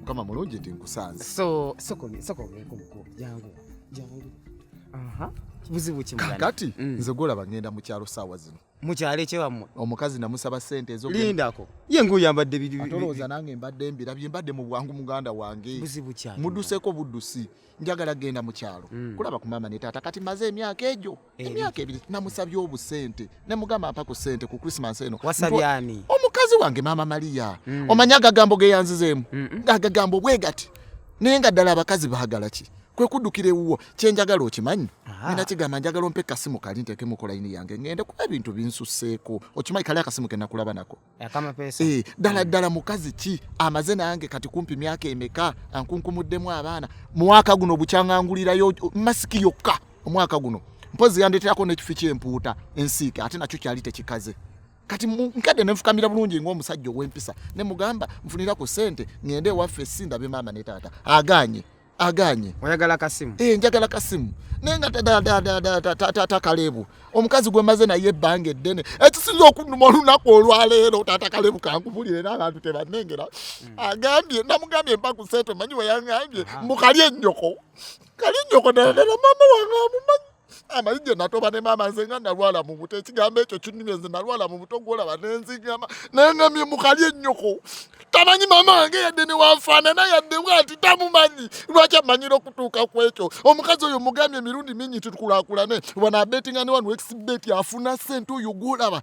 mukama mulungi nti nkusanze so sokomeko muko jangu jangu aha kibuzibu kimu kati mm. nze golaba ngenda mu kyalo saawa zino mu kyalo ekyewammwe omukazi namusaba sente ezo lindako ye nguyambadde biatolowooza nange mbadde mbirabye mbadde mu bwangu muganda wange buzibu kyalo muduseko buddusi njagala genda mu kyalo mm. kulaba ku maama ne taata kati maze emyaka egyo emyaka ebiri namusabye obusente nemugamba mpa ku sente ku christmas eno wasabyani omukazi wange maama maria mm. omanya agagambo geyanzizeemu mm -mm. agagambo bwegati naye nga ddala abakazi baagala ki kwe kuddukira ewuwo kyenjagala okimanyi nina kigamba njagala ompe kasimu kali nteekemu kolayini yange ngende kuba ebintu binsuseeko okimanyi kali akasimu kenakulaba nako akama pesa eh, dala mm. dala mukazi ki amaze nange kati kumpi myaka emeka ankunkumuddemu abaana mwaka guno bukyangangulirayo masiki yokka omwaka guno mpozi yandeterako nekifi kyempuuta ensiike ate nakyo kyali tekikaze kati nkadde nenfukamira bulungi ngaomusajja owempisa nemugamba nfunirako sente ngende ewaffe sindabe maama ne taata aganye aganye oyagala kasimu eh njagala kasimu nenga tatakalebu omukazi gwe maze naye ebbanga eddene ekisinza okunuma olunaku olwaleero tatakalebu kankubulira era abantu tebanengera hmm. agambye namugambye mpa ku sente manyi weyangambye mbu kali ennyoko kali ennyoko naye nera maama wange amumanyi amayinja natoba ne maama nze nga nalwala mu buto ekigambo ekyo kinumye nze nalwala mu buto gwolaba nenzigama naye nga mye mukali ennyoko tamanyi maama wange yadde newanfaanana yadde bwati tamumanyi lwaki amanyira okutuuka ku ekyo omukazi oyo mugambye emirundi mingi titukulaakulane wano abetinga ne wano exibeti afuna sente oyo gwolaba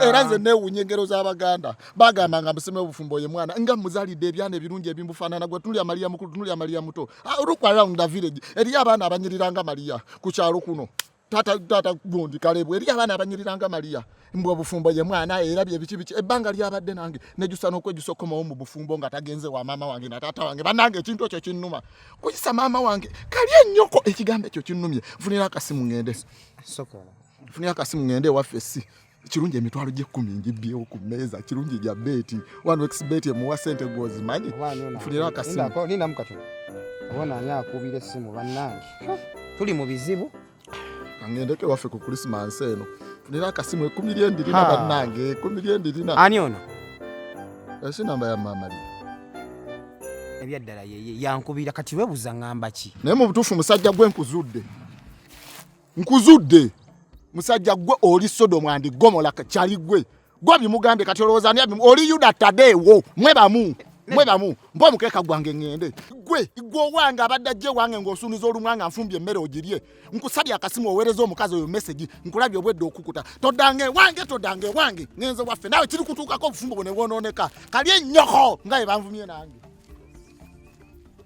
era nze newunya engero z'abaganda bagamba nga musima obufumbo ye mwana nga muzalidde ebyana ebirungi ebimbufaanana gwe tunulya maliya mukulu tunulya maliya muto ah, look around the village eriyo abaana abanyiriranga maliya ku kyalo kuno tata tata gundi kalebu eri abana abanyiranga maria mbwa bufumbo ye mwana era bye bichi bichi ebanga lya badde nange nejusa no kwejusa koma omu bufumbo nga tagenze wa mama wange na tata wange banange ekintu ekyo kinnuma kuyisa mama wange kali enyoko ekigambo ekyo kinnumye funira akasimu ngende sokola nfunye akasimu ngende ewaffe si kirungi emitwalo gy'ekkumi ngibbyewo ku mmeeza kirungi gya beeti wano exbeeti emuwa sente gwozimanyi nfunira akasimulinamu katono obona ani akuubira essimu bannange tuli mu bizibu kangendeko ewaffe ku krisimansi eno funira akasimu ekumi lyendirina bannange ekumi lyendirina ani ono esi namba ya maama lye ebyaddala yeye yankubira kati webuza ngamba ki naye mu butuufu musajja gwe nkuzudde nkuzudde musajja gwe oli sodomu andi gomola kyali gwe gwe bimugambye kati olowooza ani abimu oli yuda tadeewo mwe bamu mwe bamu mba omukeeka gwange ŋŋende gwe gwe owange abadde ajja ewange ng'osuuniza olumwa nga nfumbye emmere ogirye nkusabye akasimu oweereza omukazi oyo mesegi nkulabye obwedde okukuta todanga ewange todanga ewange ŋenze waffe naawe kiri kutuukako obufumbo bwe ne bwonooneka kali ennyoko nga ye banvumye nange